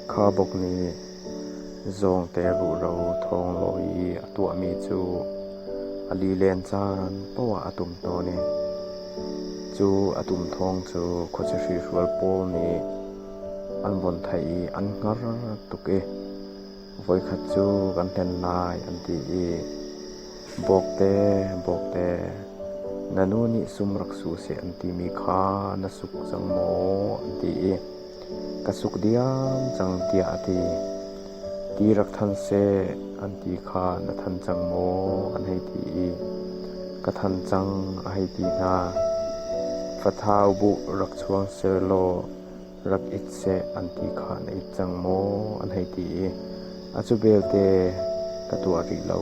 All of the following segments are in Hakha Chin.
Khuabuk nih zawngte ruhro thawng law i a tuahmi cu a lilen caan poah a tum tawn i cu a tum thawng cu khuaciahri hrual pawl nih an vun theih i an hngar tuk i. voikhat cu kan hlen lai an ti i, Bawkte, Bawkte, na nu nih sum rak su seh an timi kha na suk cang maw? an ti i, Ka suk diam cang tiah a ti. Ti rak than seh an ti kha na than cang maw? an hei ti i, Ka than cang a hei ti hna. Fathau buh rak chuang seh law rak ik seh an ti kha na it cang maw? an hei ti i a cu belte ka tuah rih lo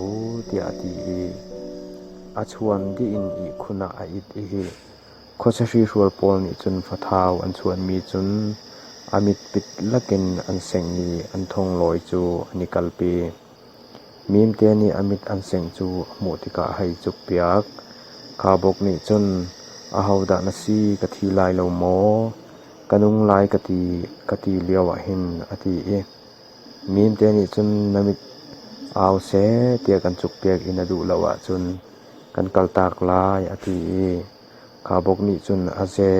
tiah a ti i a chuan dih in ihkhun ah a it i khuasahri hrual pawl nih cun fathau an chuanmi cun a mitpit lakin an seng i an thonglawi cu an i kalpi. Mimte nih a mit an sengh cu a hmuh tikah a hei cukpiak. Khabok nih cun, “Ahodah na si ka thi lai lo maw? Ka nung lai ka ti, ka ti lioah hin,” a ti i mimte nih cun, “Na mit au seh,” tiah kan cukpiak i na duh lo ahcun kan kaltak lai, a ti i khabok nih cun, “A ze,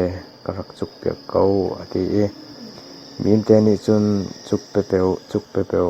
ka rak cukpiak ko,” a ti i mimte nih cun, “Cuk pepeu, cuk pepeu.”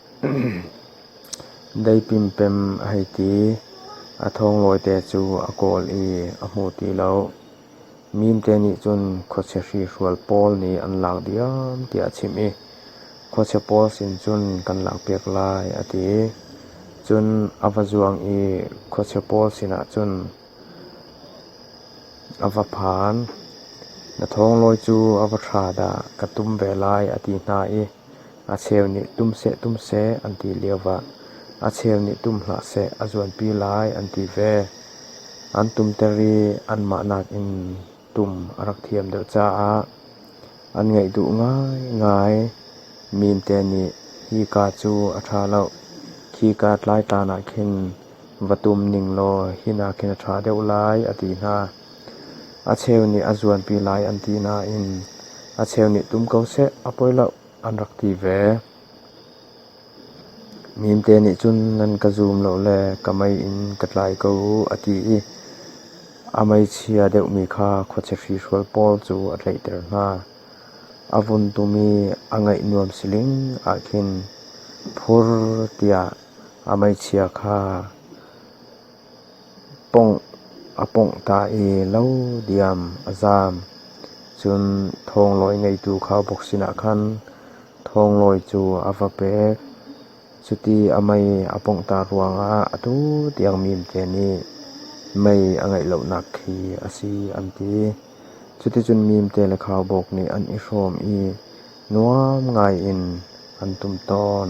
Dei pimpem a hei ti. A thawnglawite cu a kawl i a hmu ti lo. Mimte nih cun khuachia hrihrual pawl nih an lak diam tiah a chimh i khuachia pawl sin cun kan lakpiak lai a ti. Cun a va zuang i khuachia pawl sinah cun a va phan. Na thawnglawi cu a va thra dah ka tum ve lai a ti hna i A cheu nih tum seh tum seh an ti lioah a cheu nih tum hlah seh a zuanpi lai an ti ve. An tumter i anmah nakin tum a rak thiam deuh caah an ngaih duh ngaingai. Mimte nih hika cu a ṭha lo, khika tlaitan ah khin va tum ning law hina khin a ṭha deuh lai a ti hna. A cheu nih a zuanpi lai an ti nain a cheu nih tum ko seh a poi lo. An rak ti ve. Mimte nih cun nan ka zum lo le ka mei in ka tlai ko u a ti i a meichia deuhmi kha khuachiahri hrual pawl cu a tlaihter hna. A vun tum i a ngaih nuam siling ah khin phur tiah a meichia kha Pawngh a pawngh ta i lo diam a zaam. Cun thawnglawi ngeitu khaubawk sinah khan thawnglawi cu a va pek. Cuti a mei a pawnghter ruangah atu tiang mimte nih mei a ngeih lonak khi a si an ti. Cuticun mimte le khaubawk nih an i hrawm i nuam ngaiin an tum tawn.